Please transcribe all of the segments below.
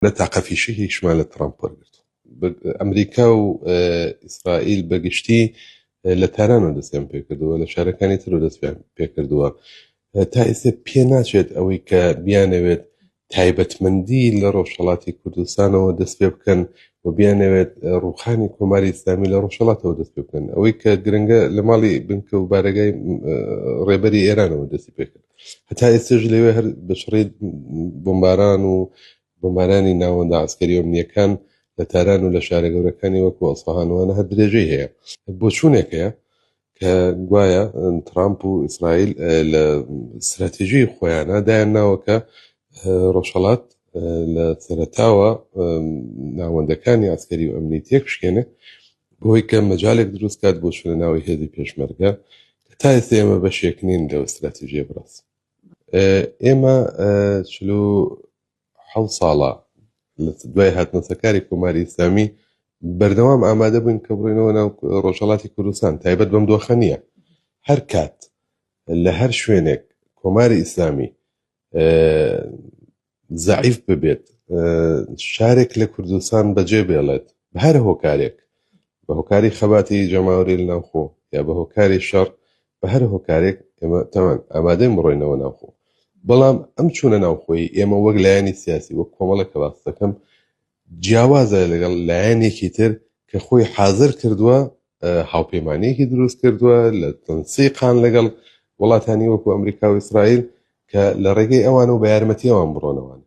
نە تاقە فیشەکێکیشمان لە تڕەمپ وەرگرتووە. ئەمریکا و ئیسرائیل بە گشتی لە تارانەوە دەستیان پێکردووە لە شارەکانی ترەوە دەستیان پێکردووە تا ئێستا پێ ناچێت ئەوەی کە بیانەوێت تایبەتمەندی لە ڕۆژهڵاتی کوردستانەوە دەست پێ بکەن و بیانەوێت ڕوخانی کۆماری ئسلامی لە ڕۆژهڵاتەوە دەست پێ بکەن ئەوەی کە گرنگە لە ماڵی بنکە و بارەگای ڕێبەری ئێرانەوە دەستی پێکرد هەتا ئێستش لەوێ هەر بەشڕی بمباران و بمبارانی ناوەندە عسکەری و ئەمنیەکان لە تاران و لە شارە گەورەکانی وەکو ئەسفهانوانە هەر درێژەی هەیە بۆ چوونێک هەیە کە گوایە ترامپ و ئیسرائیل اه، لە استراتیژی خۆیانە دایان ناوەکە اه، ڕۆژهەڵات لە سەرەتاوە ناوەندەکانی ئاسکەری و ئەمنی تێکشکێنێ بۆی کە مەجالێک دروست کات بۆ شوێنە ناوی هێزی پێشمەرگە کە تا ئێستا ئێمە بەشێک نین لە ئەستراتیژیە بڕاس ئێمە چلو حە ساڵە لە دوای هاتنەسەکاری کۆماری ئیسلامی بەردەوام ئامادە بووین کە بڕینەوە ناو ڕۆژهڵاتی کوردستان تایبەت بەم دۆخە نییە هەر کات لە هەر شوێنێک کۆماری ئیسلامی زەعیف ببێت شارێک لە کوردستان بەجێ بێڵێت هەر هۆکارێک بە هۆکاری خەباتی جەماوری ناوخۆ یا بە هۆکاری شەڕ بە هەر هۆکارێک ئێمە تاوان ئامادەی مڕۆینەوە ناوخۆ بەڵام ئەم چوونە ناوخۆی ئێمە وەک لایەنی سیاسی وەک کۆمەڵە کەڵاستەکەم جیاوازە لەگەڵ لایەنێکی تر کە خۆی حازر کردووە هاوپەیمانەیەکی دروست کردووە لە تەنسیقان لەگەڵ وڵاتانی وەکو ئەمریکا و ئیسرائیل کە لە ڕێگەی ئەوان و بە یارمەتی ئەوان بڕۆنەوان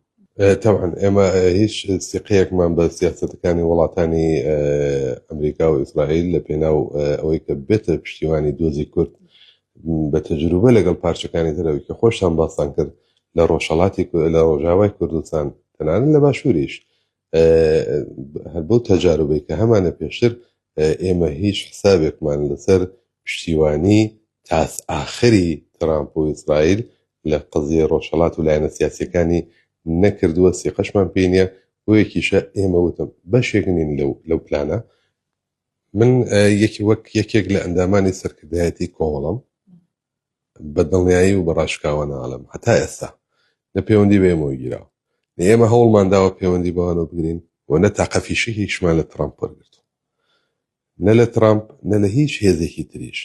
تاوان ئێمە هیچ سیقەیەکمان بە سیاستەکانی وڵاتانی ئەمریکا و ئیسرائیل لە پێناو ئەوەی کە بێتە پشتیوانی دۆزی کورد بە تەجروبە لەگەڵ پارچەکانی ترەوەی کە خۆشتان باستان کرد لە ڕۆژهەڵاتی لە ڕۆژاوای کوردستان تەنانەت لە باشووریش هەر بەو تەجاربەی کە هەمانە پێشتر ئێمە هیچ حسابێکمان لەسەر پشتیوانی تاس ئاخری ترامپ و ئیسرائیل لە قزیە ڕۆژهڵات و لایەنە سیاسەکانی نەکردووە سیقەشمان پێ نیە بۆیەکیشە ئێمە وتم بەشێک نین لەو لەو پلانە من یەکی وەک یەکێک لە ئەندامانی سەرکردایەتی کۆمەڵم بە دڵنیایی و بە ڕاشکاوانە ئەڵێم هەتا ئێستا نە پێوەندی بە ئێمەوە گیراوە نە ئێمە هەوڵمان داوە پێوەندی بەوانەوە بگرین و نە تاقە فیشەکێکیشمان لە ترامپ وەرگرت نە لە ترامپ نە لە هیچ هێزێکی تریش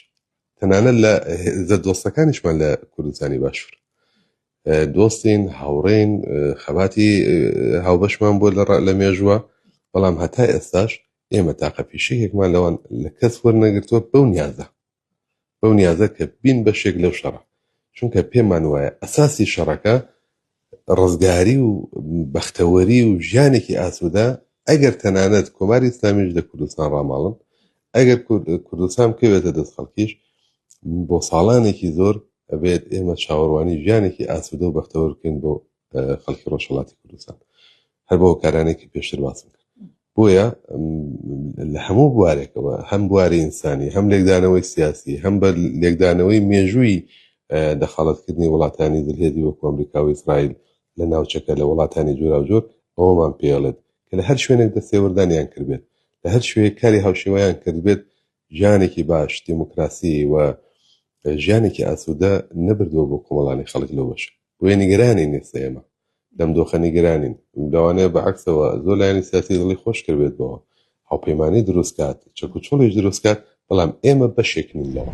تەنانەت لە هێزە دۆستەکانیشمان لە کوردستانی باشوور دۆستین هاوڕێین خەباتی هاوبەشمان بۆ لە لە مێژووە بەڵام هەتا ئێستاش ئێمە تاقە پیشەیەکمان لەوان لە کەس وەرنەگرتووە بەو نیازە بەو نیازە کە بین بەشێک لەو شەڕە چونکە پێمان وایە ئەساسی شەڕەکە ڕزگاری و بەختەوەری و ژیانێکی ئاسوودە ئەگەر تەنانەت کۆماری ئیسلامیش لە کوردستان ڕاماڵن ئەگەر کوردستان بکەوێتە دەست خەڵکیش بۆ ساڵانێکی زۆر ئەبێت ئێمە چاوەڕوانی ژیانێکی ئاسوودە و بەختەوەرکەین بۆ خەڵکی ڕۆژهڵاتی کوردستان هەر بۆ کارانێکی پێشتر باسم کرد بۆیە لە هەموو بوارێکەوە هەم بواری ئینسانی هەم لێکدانەوەی سیاسی هەم بە لێکدانەوەی مێژووی دەخاڵەتکردنی وڵاتانی دلهێدی وەکو ئەمریکا و ئیسرائیل لە ناوچەکە لە وڵاتانی جوراوجۆر ئەوەمان پێڵێت کە لە هەر شوێنێک دەستێوەردانیان کردبێت لە هەر شوێ کاری هاوشێوەیان کردبێت ژیانێکی باش دیموکراسی و ژیانێکی ئاسوودە نەبردووە بۆ کۆمەڵانی خەڵک لەو بەشە بۆیە نیگەرانین ئێستا ئێمە لەم دۆخە نیگەرانین لەوانەیە بە عکسەوە زۆر لایەنی سیاسی دڵی خۆش کردێت بەوە هاوپەیمانانی دروستکات چەک و چۆڵیش دروستکات بەڵام ئێمە بەشێکنین لەوە.